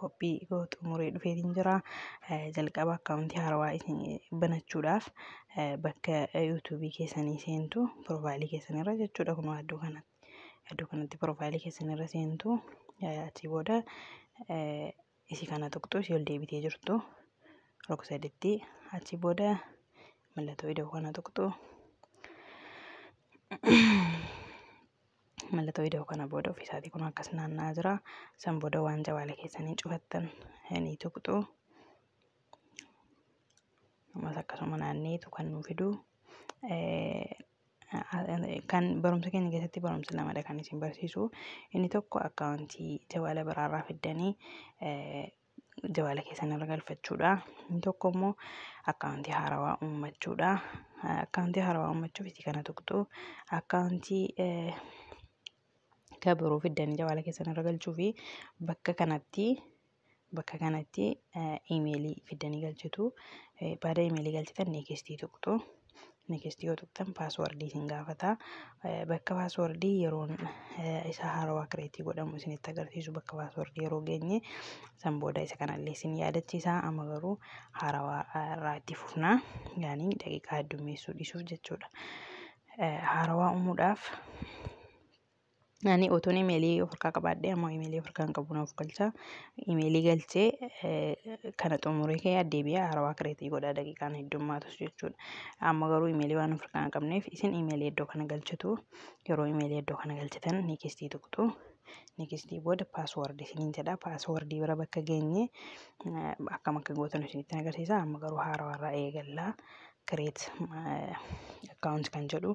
qophii koo xumuree dhufeetiin jira. Eh, Jalqaba akkaawuntii haarawaa isin banachuudhaaf eh, bakka yuutuubii keessanii seentu piroofaayilii keessanirra jechuudha kunoo iddoo kanatti. Iddoo kanatti piroofaayilii keessanirra seentu eh, achii booda eh, isii kana tuqxu isii ol deebitee jirtu rogsaditti achii booda mallattoo ida'uu kana tuqxu. mallattoo ida'uu kana booda ofii isaatii kun akkas naanna'aa jira. San booda waan jawaala keessanii cufattan ni tuqxu. Ammas akkasuma naanneetu kan nu fidu. Kan barumsa keenya keessatti barumsa lamadha kan isin barsiisu. Inni tokko akkaawuntii jawaala biraarraa fiddanii jawaala keessan irra galfachuudha. Inni tokko immoo akkaawuntii haarawaa uummachuudha. Akkaawuntii haarawaa uummachuuf itti kana tuqxu akkaawuntii kan biroo fiddanii jawaala keessan irra galchuu fi bakka kanatti bakka kanatti imeelii fiddanii galchitu. Baada imeelii galchitan neekistii tuqxu. next yoo tuqxan paaswardii isin gaafata bakka paaswardii yeroon isa haarawaa kireetii godhamu isinitti agarsiisu bakka paaswardii yeroo geenye san booda isa kanallee isin yaadachiisa amma garuu haarawaa irraa itti fufna yaanii daqiiqaa heddummeessuu dhiisuuf jechuudha haarawaa uumuudhaaf Ani utuun imeelii of harkaa qabaadhee ammoo imeelii of harkaa hin qabu naaf galcha. Imeelii galchee kana xumuree kee addeebi'ee haarawaa kireetii godhaa daqiiqaan heddummaatus jechuudha. Amma garuu imeelii waan of harkaa hin qabneef isin imeelii iddoo kana galchitu. Yeroo imeelii iddoo kana galchitan nikistii tuqxu. Nikistii booda paaswordii isiniin jedha. Paaswordii bira bakka geenye akkam akka gootan isinitti agarsiisa. Amma garuu haarawaarraa eegalla. Kireet akkaawunti kan jedhu.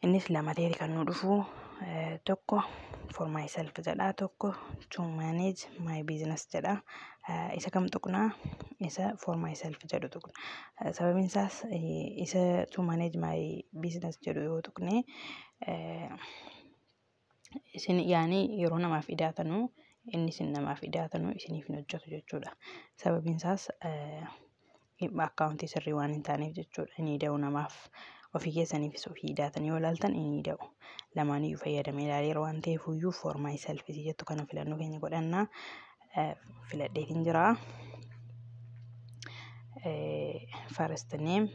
Innis lama ta'eeti kan nu dhufu tokko for myself jedha tokko to manage my business jedha isa kam tuqnaa isa for myself jedhu tuqna sababiin isaas isa to manage my business jedhu yoo tuqne isin yaani yeroo namaaf idaatanu inni isin namaaf idaatanu isiniif hin hojjetu jechuudha. Sababiin isaas dhimma akkaawuntii sirrii waan hin taaneef jechuudha. Inni ida'u namaaf ofii keessaniifis ofii idaatanii yoo ilaaltan inni ida'u. Lamaaniyyuu fayyadamee ilaaleera waan ta'eef iyyuu for myself isii jettu kana filannoo keenya godhannaa. filadheetiin jira. First name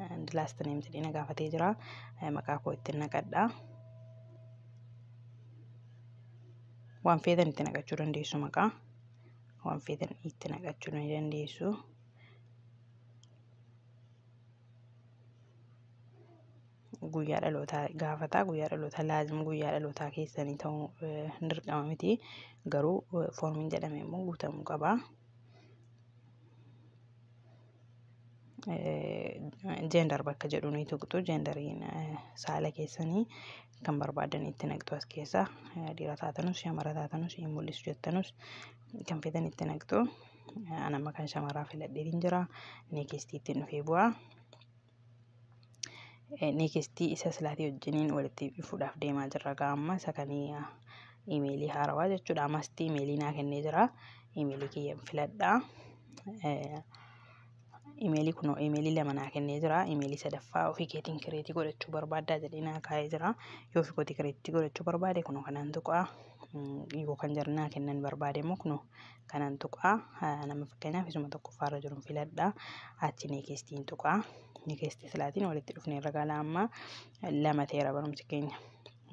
and last name jedhee na gaafatee jira. Maqaa koo ittiin naqadha. Waan feetan itti naqachuu dandeessu maqaa. Waan feetan itti naqachuu ni dandeessu. guyyaa dhalootaa gaafata guyyaa dhalootaa laazim guyyaa dhalootaa keessanii ta'uu eh, hin dirqama miti garuu eh, foormiin jedhame immoo guutamuu qaba. Jeendar eh, bakka jedhu ni tuqxu jeendariin saala keessanii kan barbaadan itti naqxu as keessa dhiira taatanus shamara taatanus hin mul'isu jettanus kan feetan itti naqxu anamma kan shamaraa filadhee hin jira neekistii ittiin dhufee bu'aa. neekistii isa silaatii wajjiniin walitti dhufuudhaaf deemaa jirra gaa amma isa kan imeelii haarawaa jechuudha ammastii imeelii naa kennee jira imeelii kiyya filadha imeelii kun imeelii lama naa kennee jira imeelii sadaffaa ofii keetiin kireetii godhachuu barbaaddaa jedhee naa kaa'ee jira yoo ofii kootii kireetii godhachuu barbaade kunoo kanaan tuqaa yoo kan jarnaa kennan barbaade immoo kunoo kanan tuqaa nama fakkeenyaaf isuma tokkoffaa irra jiru filadha achi neekistiin tuqaa neekistii silaatiin walitti dhufne irra gala amma lama ta'eera barumsi keenya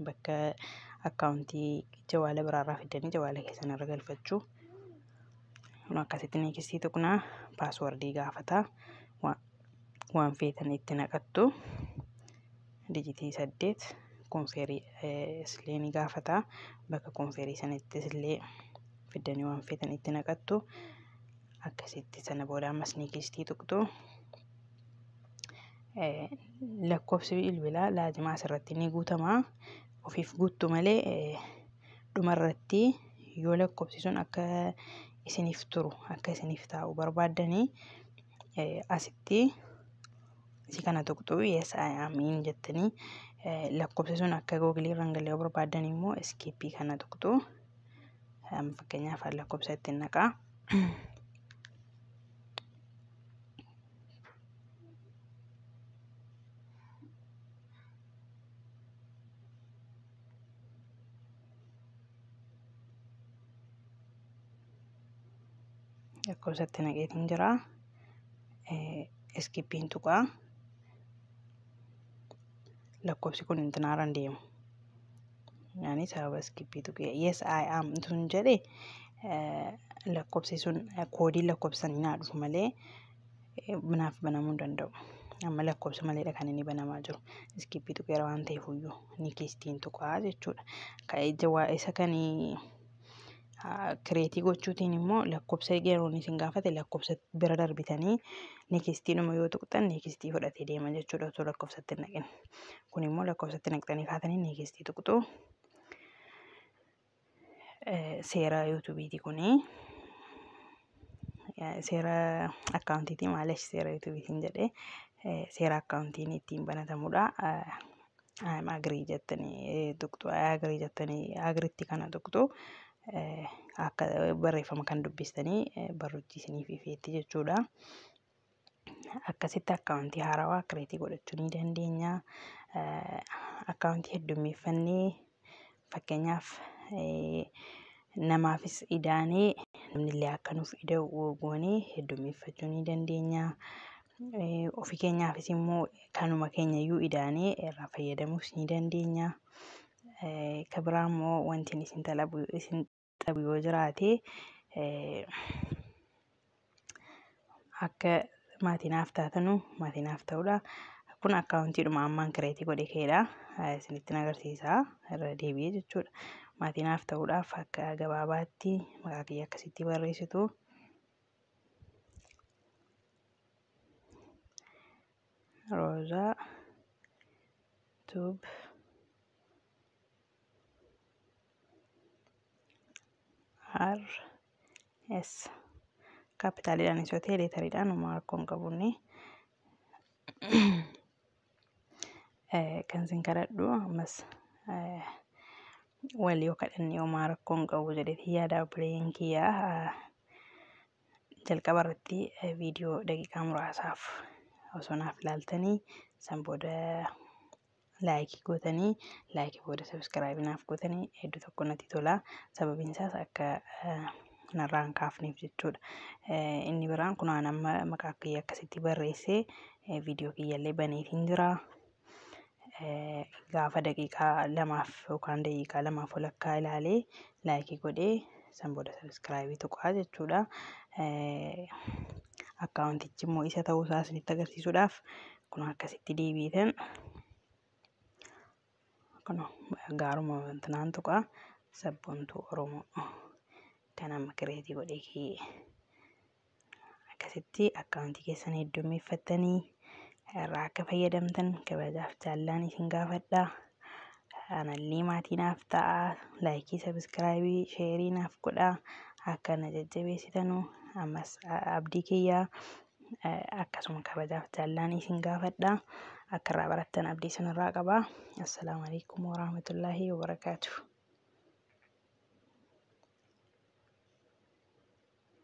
bakka akkaawuntii jawaala biraarraa fiddanii jawaala keessan irra galfachuu kun akkasitti neekistii tuqnaa paaswardii gaafata waan feetan itti naqattu dijitii saddeet konfeerii islee ni gaafata bakka konfeerii sanittis illee fiddanii waan feetan itti naqattu akkasitti sana booda ammas ni kiistii tuqxu lakkoofsi bilbilaa laazimaa asirratti ni guutama ofiif guuttu malee dhumarratti yoo lakkoofsi sun akka isiniif turu akka isiniif taa'u barbaaddanii asitti si kana tuqxu yes I am in jettanii lakkoofsi sun akka googilii irraan galee barbaaddan immoo iskiippii kana tuqxu. Fakkeenyaaf lakkoofsa ittiin naqaa. lakkoofsa itti naqeetiin jira. Iskippiin tuqaa. Lakkoofsi kun intinaaraan deemu. Ani saabaskipii tuqee yes I am tun jedhe lakkoofsi sun koodii lakkoofsan naa dhufu malee naaf banamuu hin danda'u. Amma lakkoofsa maleedha kan inni banamaa jiru. Iskippii tuqeera waan ta'eef iyyuu ni keessi ittiin tuqaa jechuudha. Kan ija waa isa kanii. kireetii gochuutiin immoo lakkoofsa yeroon isin gaafate lakkoofsa bira darbitanii neekistiidhuma yoo tuqxan neekistii fudhatee deema jechuudha osoo lakkoofsatti hin naqin. Kun immoo lakkoofsatti naqxanii kaatanii neekistii tuqxu. Seera yuutuubiiti kuni. seera akkaawuntiitii maaliif seera yuutuubiitiin jedhee seera akkaawuntiin ittiin banatamudha. I'm agree jettanii tuqxu. I agree jettanii agriitti kana tuqxu. Akka barreeffama kan dubbistanii barruutti isiniif ifeetti jechuudha. akkasitti akkaawuntii haarawaa kireetii godhachuu ni dandeenya. Akkaawuntii heddummeeffannee fakkeenyaaf namaafis idaanee namni illee akka nuuf ida'u goonee heddummeeffachuu ni dandeenya. Ofi keenyaafis immoo kanuma keenya iyyuu idaanee irraa fayyadamuus ni dandeenya. Kan biraa immoo wanti isin dhabu yoo jiraate akka maatii naaf taatanu maatii naaf ta'uudha. Kun akkaawuntiidhuma ammaan kireetii godhe keedha. Isinittin agarsiisa irra deebi'ee jechuudha. Maatii naaf ta'uudhaaf akka gabaabaatti maqaa kiyya akkasitti barreessitu. Roozaa tuub. R S kaapitaaliidhaan yoo ta'e leetariidhaan homaa rakkoo hin qabunni. Kan isin kadhadhu ammas wal yoo kadhanne homaa rakkoo hin qabu jedheetii yaada obboleeyyan kiyyaa jalqaba irratti viidiyoo daqiiqaa muraasaaf osoo naaf ilaaltanii san booda laayikii gootanii laayikii booda sabiskiraaybii naaf gootanii hedduu tokko natti tola sababiin isaas akka narraa hin kaafneef jechuudha. Inni biraan kun aan amma maqaa kiyya akkasitti barreessee viidiyoo kiyyallee baneef hin jira. Gaafa daqiiqaa lamaaf yookaan daqiiqaa lamaaf walakkaa ilaalee laayikii godhee san booda sabiskiraaybii tuqaa jechuudha. Akkaawuntichi immoo isa ta'uu isaa isinitti agarsiisuudhaaf kun akkasitti deebiitan kun gaaruma wantinaan tuqaa sabboontuu oromoo kan amma kireetii godhee kee akkasitti akkaawuntii keessan heddummeeffattanii irraa akka fayyadamtan kabajaaf jaallaan isin gaafadha. Anallee maatii naaf ta'a. Laayikii, sabiskiraayibii, sheerii naaf godha. Akka na jajjabeessitanu ammas abdii kiyyaa akkasuma kabajaaf jaallaan isin gaafadha akka irraa barattan abdii isin irraa qaba assalaamu alaikum warahmatullaahi wabarakaatu